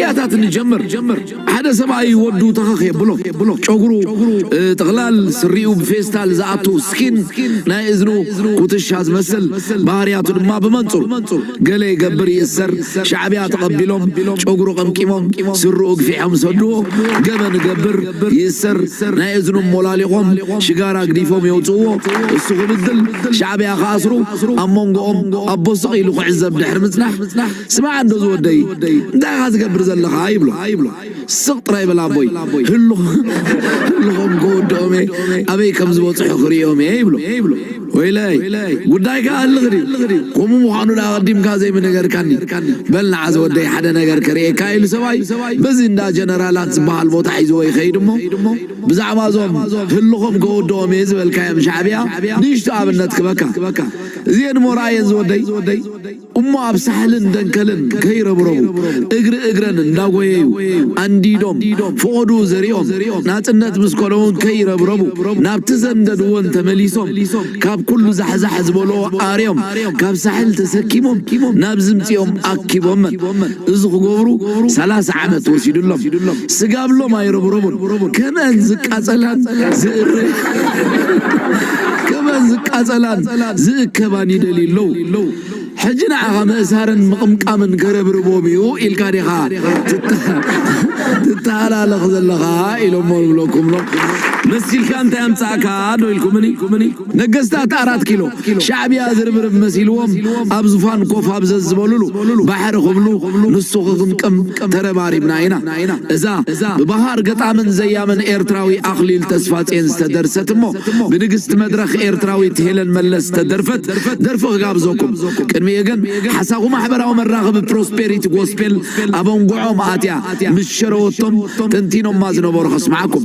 ያታት ንጀምር ሓደ ሰብኣይ ወዱ ተኸኽ የብሎ ጨጉሩ ጥቕላል ስሪኡ ብፌስታል ዝኣቱ ስኪን ናይ እዝኑ ኩትሻ ዝመስል ባህርያቱ ድማ ብመንፅሩ ገለ ይገብር ይእሰር ሻዕብያ ተቐቢሎም ጨጉሩ ቀምቂሞም ስርኡ ግፊሖም ሰድዎ ገበን ገብር ይእሰር ናይ እዝኑ ሞላሊቖም ሽጋራ ግዲፎም የውፅዎ እሱ ክብድል ሻዕብያ ክኣስሩ ኣብ መንጎኦም ኣቦ ስቕ ኢሉ ክዕዘብ ድሕሪ ምፅናሕ ስማዕ እንዶ ዝወደይ እንታይ ኢኻ ዝገብር ዘለኻ ይብሎ ስቕ ጥራይ በል ኣቦይ ህልኾም ከወድኦም እየ ኣበይ ከም ዝበፅሑ ክርእዮም እየ ይብሎ ወይለይ ጉዳይካ ኣልኽ ድዩ ከምኡ ምዃኑ ዳ ቀዲምካ ዘይምነገርካኒ በል ንዓ ዝወደይ ሓደ ነገር ከርእየካ ኢሉ ሰብኣይ በዚ እንዳ ጀነራላት ዝበሃል ቦታ ሒዝዎ ይኸይድ እሞ ብዛዕባ እዞም ህልኾም ከወድኦም እየ ዝበልካዮም ሻዕብያ ንእሽቶ ኣብነት ክበካ እዚኤን እሞ ረኣየን ዝወደይ እሞ ኣብ ሳሕልን ደንከልን ከይረብረቡ እግሪ እግረን እንዳጎየዩ ኣንዲዶም ፍቆድኡ ዘሪኦም ናጽነት ምስ ኮነውን ከይረብረቡ ናብቲ ዘንደድዎን ተመሊሶም ካብ ኩሉ ዛሕዛሕ ዝበልዎ ኣርዮም ካብ ሳሕል ተሰኪሞም ናብ ዝምጽኦም ኣኪቦመን። እዚ ክገብሩ ሰላሳ ዓመት ወሲዱሎም ስጋብሎም ኣይረብረቡን ከመን ዝቃጸላን ዝእረ ከመን ዝቃጸላን ዝእከባን ይደልዩ ኣለዉ ሕጂ ንዓኻ ምእሳርን ምቕምቃምን ከረብርቦም እዩ ኢልካ ዲኻ ትተሃላለኽ ዘለኻ ኢሎሞ ንብለኩም ሎ መሲልካ እንታይ ኣምጻእካ ዶ ኢልኩምኒ ነገስታት ኣራት ኪሎ ሻዕብያ ዝርብርብ መሲልዎም ኣብ ዝፋን ኮፍ ኣብ ዘዝበልሉ ባሕሪ ክብሉ ንሱ ክቅምቅም ተረባሪብና ኢና። እዛ ብባሃር ገጣምን ዘያምን ኤርትራዊ ኣኽሊል ተስፋጼን ዝተደርሰት እሞ ብንግስቲ መድረኽ ኤርትራዊት ሄለን መለስ ዝተደርፈት ደርፊ ክጋብዘኩም። ቅድሚኡ ግን ሓሳኹ ማሕበራዊ መራኸቢ ፕሮስፔሪቲ ጎስፔል ኣብ ኣንጉዖም ኣትያ ምስ ሸረወቶም ተንቲኖማ ዝነበሩ ከስምዓኩም።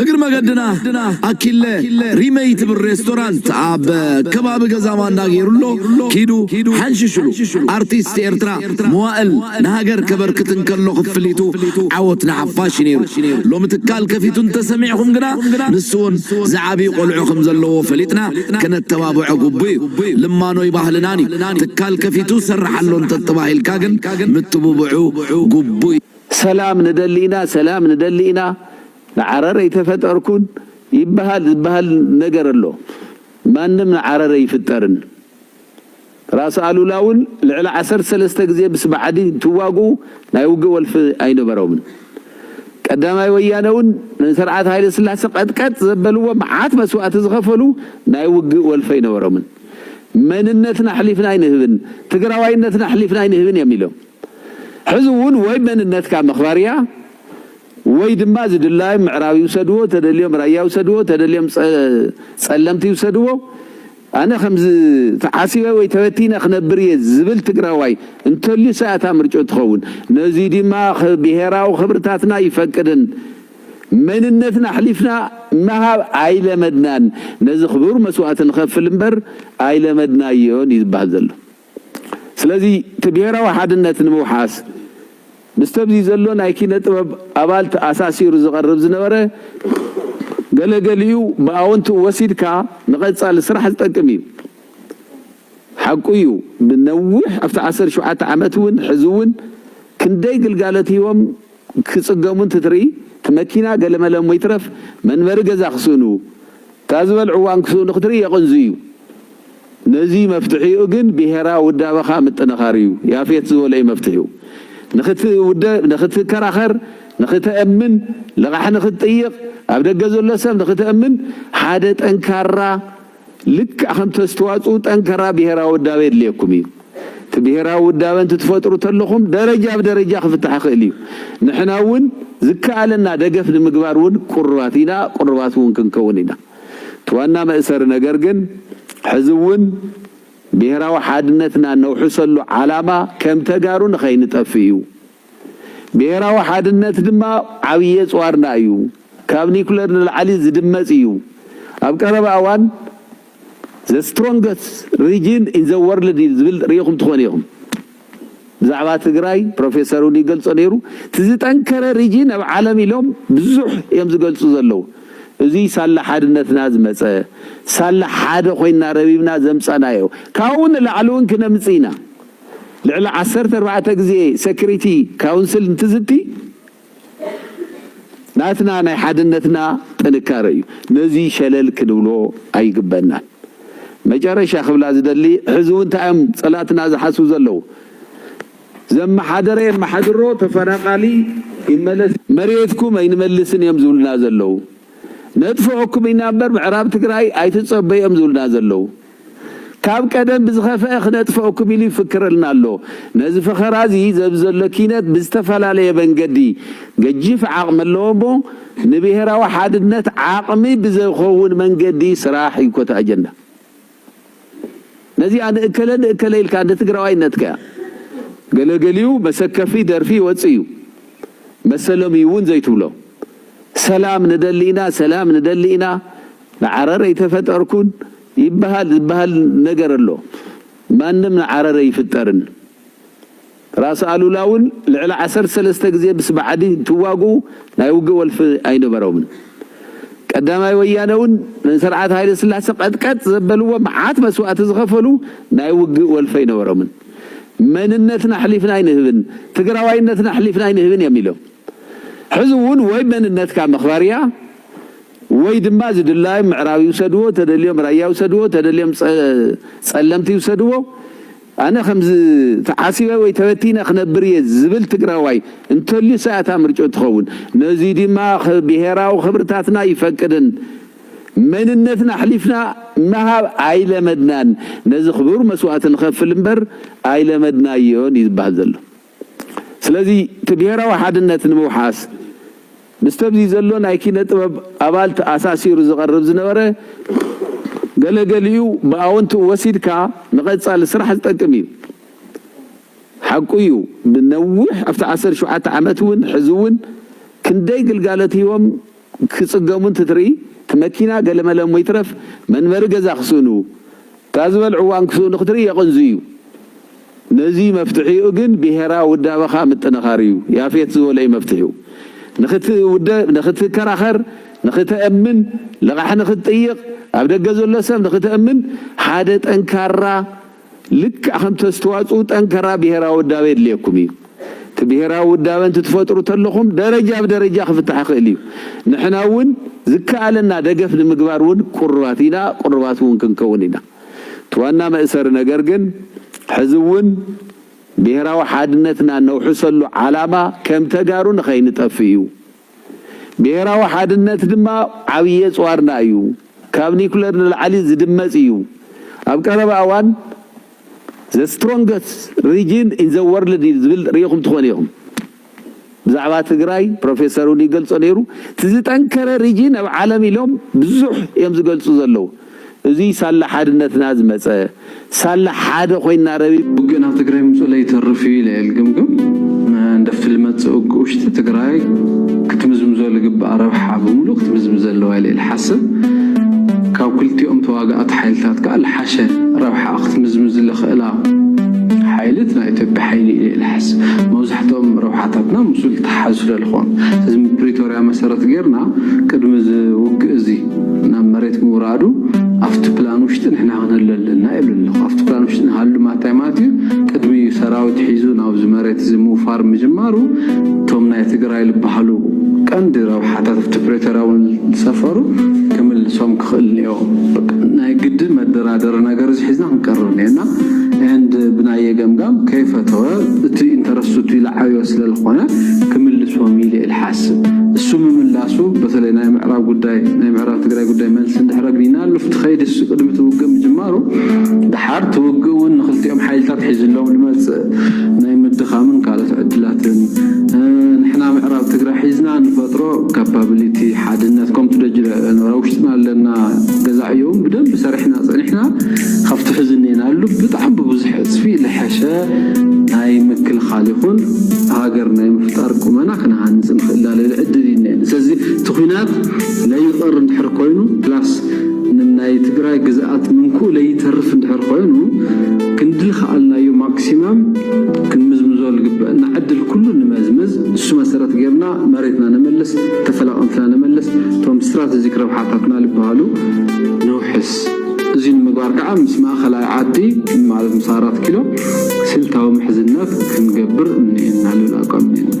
እግሪ መገድና ኣኪለ ሪመይ ትብል ሬስቶራንት ኣብ ከባቢ ገዛ ማንዳ ገይሩሎ ኪዱ ሓንሽሽሉ ኣርቲስት ኤርትራ መዋእል ንሃገር ከበርክት እንከሎ ክፍሊቱ ዓወት ንሓፋሽ እዩ ነይሩ ሎሚ ትካል ከፊቱ እንተሰሚዕኹም ግና ንሱ እውን ዝዓብዩ ቆልዑ ከም ዘለዎ ፈሊጥና ከነተባብዖ ግቡእ እዩ ልማኖይ ባህልናን እዩ ትካል ከፊቱ ዝሰርሕ ኣሎ እንተተባሂልካ ግን ምትብብዑ ግቡእ እዩ። ሰላም ንደሊ ኢና ሰላም ንደሊ ኢና ንዓረር ኣይተፈጠርኩን ይበሃል ዝበሃል ነገር ኣሎ ማንም ንዓረር ኣይፍጠርን ራስ ኣሉላ ውን ልዕሊ ዓሰርተ ሰለስተ ግዜ ምስ ብዓዲ እንትዋግኡ ናይ ውግእ ወልፊ ኣይነበሮምን ቀዳማይ ወያነ ውን ንስርዓት ሃይለስላሰ ቀጥቀጥ ዘበልዎ መዓት መስዋእቲ ዝኸፈሉ ናይ ውግእ ወልፊ ኣይነበሮምን መንነትና ኣሕሊፍና ኣይንህብን ትግራዋይነትና ኣሕሊፍና ኣይንህብን እዮም ኢሎም ሕዚ እውን ወይ መንነትካ ምኽባር እያ ወይ ድማ ዝድላዮም ምዕራብ ይውሰድዎ ተደልዮም ራያ ይውሰድዎ ተደልዮም ፀለምቲ ይውሰድዎ ኣነ ከምዚ ተዓሲበ ወይ ተበቲነ ክነብር እየ ዝብል ትግራዋይ እንተልዩሰ እያ እታ ምርጭኡ ትኸውን ነዙይ ድማ ብሄራዊ ክብርታትና ኣይፈቅድን መንነትና ኣሕሊፍና ምሃብ ኣይለመድናን ነዚ ክቡር መስዋእቲ ንኸፍል እምበር ኣይለመድናዮን እዩ ዝብሃል ዘሎ። ስለዚ እቲ ብሄራዊ ሓድነት ንምውሓስ ምስቲ ኣብዚ ዘሎ ናይ ኪነ ጥበብ ኣባል ተኣሳሲሩ ዝቐርብ ዝነበረ ገለ ገሊኡ ብኣወንትኡ ወሲድካ ንቐፃሊ ስራሕ ዝጠቅም እዩ። ሓቁ እዩ ንነዊሕ ኣብቲ ዓሰርተ ሸውዓተ ዓመት እውን ሕዚ እውን ክንደይ ግልጋሎት ሂቦም ክፅገሙ እንትትርኢ እቲ መኪና ገለመለ እሞ ይትረፍ መንበሪ ገዛ ክስእኑ እታ ዝበልዕዋ እንክስእኑ ክትርኢ የቕንዙ እዩ። ነዙይ መፍትሒኡ ግን ብሄራዊ ውዳበኻ ምጥንኻር እዩ። ያፌት ዝበሎ እዩ መፍትሒኡ። ንክትውደብ፣ ንክትከራኸር፣ ንክተእምን፣ ልቓሕ ንክትጥይቕ፣ ኣብ ደገ ዘሎ ሰብ ንክተእምን ሓደ ጠንካራ፣ ልክዕ ከም ተስትዋጽኡ ጠንከራ ብሄራዊ ውዳበ የድልየኩም እዩ። እቲ ብሄራዊ ውዳበ እንትትፈጥሩ ተለኹም ደረጃ ብደረጃ ክፍታሕ ይኽእል እዩ። ንሕና እውን ዝከኣለና ደገፍ ንምግባር እውን ቁሩባት ኢና፣ ቁሩባት እውን ክንከውን ኢና። እቲ ዋና መእሰሪ ነገር ግን ሕዚ እውን ብሄራዊ ሓድነትና እነውሕሰሉ ዓላማ ከም ተጋሩ ንኸይንጠፍእ እዩ። ብሄራዊ ሓድነት ድማ ዓብዪ ኣፅዋርና እዩ፣ ካብ ኒኩለር ንላዕሊ ዝድመፅ እዩ፣ ኣብ ቀረባ እዋን the strongest region in the world እዩ ዝብል ሪኢኹም ትኾኑ ኢኹም። ብዛዕባ ትግራይ ፕሮፌሰር እውን ይገልፆ ነይሩ፣ እቲ ዝጠንከረ ሪጅን ኣብ ዓለም ኢሎም ብዙሕ እዮም ዝገልፁ ዘለዉ። እዙይ ሳላ ሓድነትና ዝመፀ፣ ሳላ ሓደ ኮይንና ረቢብና ዘምፀእናዮ፣ ካብኡ ንላዕሊ እውን ክነምፅእ ኢና። ልዕሊ ዓሰርተ ኣርባዕተ ግዜ ሰክሪቲ ካውንስል እንትዝቲ ናትና ናይ ሓድነትና ጥንካረ እዩ። ነዚ ሸለል ክንብሎ ኣይግበእናን። መጨረሻ ክብላ ዝደሊ ሕዚ እውን እንታይ እዮም ፀላእትና ዝሓስቡ ዘለው? ዘመሓደረ የመሓድሮ ተፈናቃሊ ይመለስ፣ መሬትኩም ኣይንመልስን እዮም ዝብሉና ዘለው፣ ነጥፍኦኩም ኢና እምበር ምዕራብ ትግራይ ኣይትፀበዩ እዮም ዝብሉና ዘለው፣ ካብ ቀደም ብዝኸፈኣ ክነጥፈኣኩም ኢሉ ይፍክረልና ኣሎ። ነዚ ፈኸራ እዚ ዘብዚ ዘሎ ኪነት ብዝተፈላለየ መንገዲ ገጂፍ ዓቕሚ ኣለዎ እሞ ንብሄራዊ ሓድነት ዓቕሚ ብዘኸውን መንገዲ ስራሕ እዩ ኮታ ኣጀንዳ ነዚኣ ንእከለ ንእከለ ኢልካ እንደ ትግራዋይነት ከያ ገለገሊኡ መሰከፊ ደርፊ ይወፅእ እዩ መሰሎም እዩ እውን ዘይትብሎ ሰላም ንደሊ ኢና ሰላም ንደሊ ኢና ንዓረር ኣይተፈጠርኩን ይበሃል ዝበሃል ነገር ኣሎ ማንም ንዓረር ኣይፍጠርን ራስ ኣሉላ ውን ልዕሊ ዓሰርተ ሰለስተ ግዜ ምስ ብዓዲ እንትዋግኡ ናይ ውግእ ወልፊ ኣይነበሮምን ቀዳማይ ወያነ ውን ንስርዓት ሃይለስላሰ ቀጥቀጥ ዘበልዎ መዓት መስዋእቲ ዝኸፈሉ ናይ ውግእ ወልፊ ኣይነበሮምን መንነትና ኣሕሊፍና ኣይንህብን ትግራዋይነትና ኣሕሊፍና ኣይንህብን እዮም ኢሎም ሕዚ ውን ወይ መንነትካ ምኽባር እያ ወይ ድማ ዝድላዮም ምዕራብ ይውሰድዎ ተደልዮም ራያ ይውሰድዎ ተደልዮም ፀለምቲ ይውሰድዎ ኣነ ከምዚ ተዓሲበ ወይ ተበቲነ ክነብር እየ ዝብል ትግራዋይ እንተልዩስ እያ እታ ምርጭኡ ትኸውን ነዙይ ድማ ብሄራዊ ክብርታትና ይፈቅድን መንነትና ኣሕሊፍና ምሃብ ኣይለመድናን ነዚ ክቡር መስዋእቲ ንኸፍል እምበር ኣይለመድናዮን እዩ ዝባሃል ዘሎ። ስለዚ እቲ ብሄራዊ ሓድነት ንምውሓስ ምስተብዚ ዘሎ ናይ ኪነ ጥበብ ኣባል ተኣሳሲሩ ዝቐርብ ዝነበረ ገለ ገሊኡ ብኣወንትኡ ወሲድካ ንቐፃሊ ስራሕ ዝጠቅም እዩ። ሓቁ እዩ ብነዊሕ ኣብቲ ዓሰርተ ሸውዓተ ዓመት እውን ሕዚ እውን ክንደይ ግልጋሎት ሂቦም ክጽገሙ እንትትርኢ እቲ መኪና ገለመለ እሞ ይትረፍ መንበሪ ገዛ ክስእኑ እታ ዝበልዕዋ እዋን ክስእኑ ክትርኢ የቕንዙ እዩ። ነዙይ መፍትሒኡ ግን ብሄራዊ ውዳበኻ ምጥንኻር እዩ። ያፌት ዝበሎ እዩ መፍትሒኡ። ንክትውደብ፣ ንክትከራኸር፣ ንክተእምን፣ ልቓሕ ንክትጥይቕ፣ ኣብ ደገ ዘሎ ሰብ ንክተእምን ሓደ ጠንካራ፣ ልክዕ ከምቲ ኣስተዋጽኡ ጠንከራ ብሄራዊ ውዳበ የድልየኩም እዩ። እቲ ብሄራዊ ውዳበ እንትትፈጥሩ ተለኹም ደረጃ ብደረጃ ክፍታሕ ይኽእል እዩ። ንሕና እውን ዝከኣለና ደገፍ ንምግባር እውን ቁሩባት ኢና፣ ቁሩባት እውን ክንከውን ኢና። እቲ ዋና መእሰሪ ነገር ግን ሕዚ እውን ብሄራዊ ሓድነትና እነውሕሰሉ ዓላማ ከም ተጋሩ ንኸይንጠፍእ እዩ። ብሄራዊ ሓድነት ድማ ዓብዪ ኣፅዋርና እዩ፣ ካብ ኒኩለር ንላዕሊ ዝድመፅ እዩ፣ ኣብ ቀረባ እዋን the strongest region in the world እዩ ዝብል ሪኢኹም ትኾኑ ኢኹም። ብዛዕባ ትግራይ ፕሮፌሰር እውን ይገልፆ ነይሩ፣ እቲ ዝጠንከረ ሪጅን ኣብ ዓለም ኢሎም ብዙሕ እዮም ዝገልፁ ዘለዉ። እዙይ ሳላ ሓድነትና ዝመፀ ሳላ ሓደ ኮይንና ረቢ። ውግእ ናብ ትግራይ ምምፅኡ ለይተርፍ እዩ ኢለ እየ ልግምግም። መንደፍቲ ልመፅእ ውግእ ውሽጢ ትግራይ ክትምዝምዞ ልግባኣ ረብሓ ብምሉእ ክትምዝምዘ ኣለዋ ኢለ እየ ልሓስብ። ካብ ክልቲኦም ተዋጋእቲ ሓይልታት ከዓ ልሓሸ ረብሓኣ ክትምዝምዝ ልኽእላ ሓይሊ እቲ ናይ ኢትዮጵያ ሓይሊ እዩ ኢለ እየ ልሓስብ። መብዛሕትኦም ረብሓታትና ምስኡ ልተሓሓዙ ስለልኾኑ። ስለዚ ብፕሪቶርያ መሰረት ገይርና ቅድሚ እዚ ውግእ እዚ። ናብ መሬት ምውራዱ ኣብቲ ፕላን ውሽጢ ንሕና ክንህሉ ኣለና ይብል ኣሎ። ኣብቲ ፕላን ውሽጢ ንሃሉ ማታይ ማለት እዩ ቅድሚ ሰራዊት ሒዙ ናብዚ መሬት እዚ ምውፋር ምጅማሩ እቶም ናይ ትግራይ ልባሃሉ ቀንዲ ረብሓታት ኣብቲ ፕሪቶርያ እውን ዝሰፈሩ ክምልሶም ክኽእል እኒኦ። ናይ ግድን መደራደሪ ነገር እዚ ሒዝና ክንቀርብ እኒኦና ኤንድ ብናየ ገምጋም ከይፈተወ እቲ ኢንተረስቱ እቲ ዝዓበዮ ስለዝኾነ ክምልሶም ኢለ ይሓስብ። እሱ ምምላሱ በተለይ ናይ ምዕራብ ጉዳይ ናይ ምዕራብ ትግራይ ጉዳይ መልሲ እንድሕር ኣግኒናሉ እቲ ከይዲ እሱ ቅድሚ እቲ ውግእ ምጅማሩ ደሓር እቲ ውግእ እውን ንክልቲኦም ሓይልታት ሒዝሎም ንመፅእ ናይ ምድኻምን ካልኦት ዕድላትን ንሕና ምዕራብ ትግራይ ሒዝና ንፈጥሮ ካፓብሊቲ ሓድነት ከምቲ ደጅ ኖራ ውሽጥና ኣለና ገዛ ዕዮውን ብደንብ ሰሪሕና ፀኒሕና ካብቲ ሕዚ እኔናሉ ብጣዕሚ ብብዙሕ ዕፅፊ ልሐሸ ናይ ምክልኻል ይኹን ሃገር ናይ ምፍጣር ቁመና ክንሃንጽ ንኽእላለሉ ዕድል እዩ እኒኤ። ስለዚ እቲ ኩናት ለይቐር እንድሕር ኮይኑ ፕላስ ንናይ ትግራይ ግዝኣት ምንኩኡ ለይተርፍ እንድሕር ኮይኑ ክንዲ ልኸኣልናዮ ማክሲማም ክንምዝምዞ ልግበእና ዕድል ኩሉ ንመዝምዝ። ንሱ መሰረት ገይርና መሬትና ነመልስ፣ ተፈላቐምትና ነመልስ፣ እቶም ስትራተጂክ ረብሓታትና ልበሃሉ ነውሕስ። እዚ ንምግባር ከኣ ምስ ማእኸላይ ዓዲ ማለት ምስ ኣራት ኪሎ ስልታዊ ምሕዝነት ክንገብር እኒኤና ልብል ኣቋም እኒኤና።